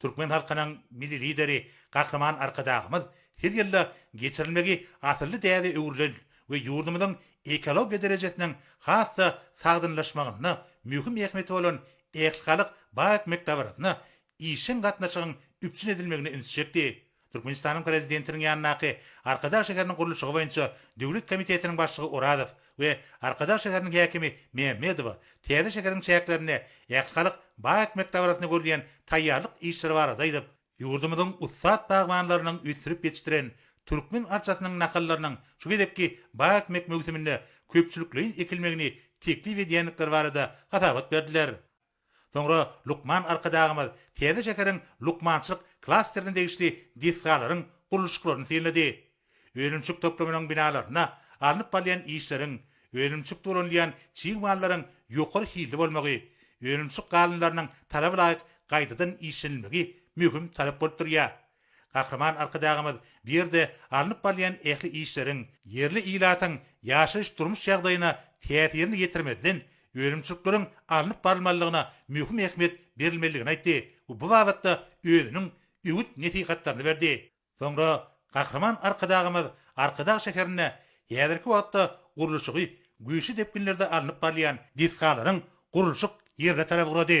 Türkmen halkynyň Milli Lideri Gahryman Arkadagymyz her ýylda geçirilmegi asylly däbe öwrülen we ýurdumyzyň ekologiýa derejesiniň has-da sagdynlaşmagynda möhüm ähmiýeti bolan Ählhalk bag ekmek dabarasyna işjeň gatnaşygyň üpjün edilmegine üns çekdi. Türkmenistanyň Prezidentiniň ýanyndaky Arkadag şäheriniň gurluşygy boýunça döwlet komitetiniň başlygy Orazow we Arkadag şäheriniň häkimi Mämmedowa täze şäheriň çäklerinde ähli halk bag ekmek dabarasyna görülýän taýýarlyk işleri barada aýdyp, ýurdumyzyň ussat bagbanlarynyň ösdürip ýetişdiren türkmen arçasynyň nahallarynyň şu gezekki bag ekmek möwsüminde köpçülikleýin ekilmegini teklip edýändikleri barada hasabat berdiler. Soňra lukman Arkadagymyz täze şäheriň lukmançylyk klasterine degişli desgalaryň gurluşyklaryny synlady. Önümçilik toplumynyň binalarynda alnyp barylýan işleriň, önümçilikde ulanylýan çig mallaryň ýokary hilli bolmagy, önümçilik galynlarynyň talaba laýyk gaýtadan işlenilmegi möhüm talap bolup durýar. Gahryman Arkadagymyz bu ýerde alnyp barylýan ähli işleriň, ýerli ilatyň ýaşaýyş-durmuş ýagdaýyna täsirini ýetirmezden, önümçilikleriň alnyp barylmalydygyna möhüm ähmiýet berilmelidigini aýtdy we bu babatda özüniň öwüt-nesihatlaryny berdi. Soňra Gahryman Arkadagymyz Arkadag şäherinde häzirki wagtda gurluşygy güýçli depginlerde alnyp barylýan desgalaryň gurluşyk ýerine tarap ugrady.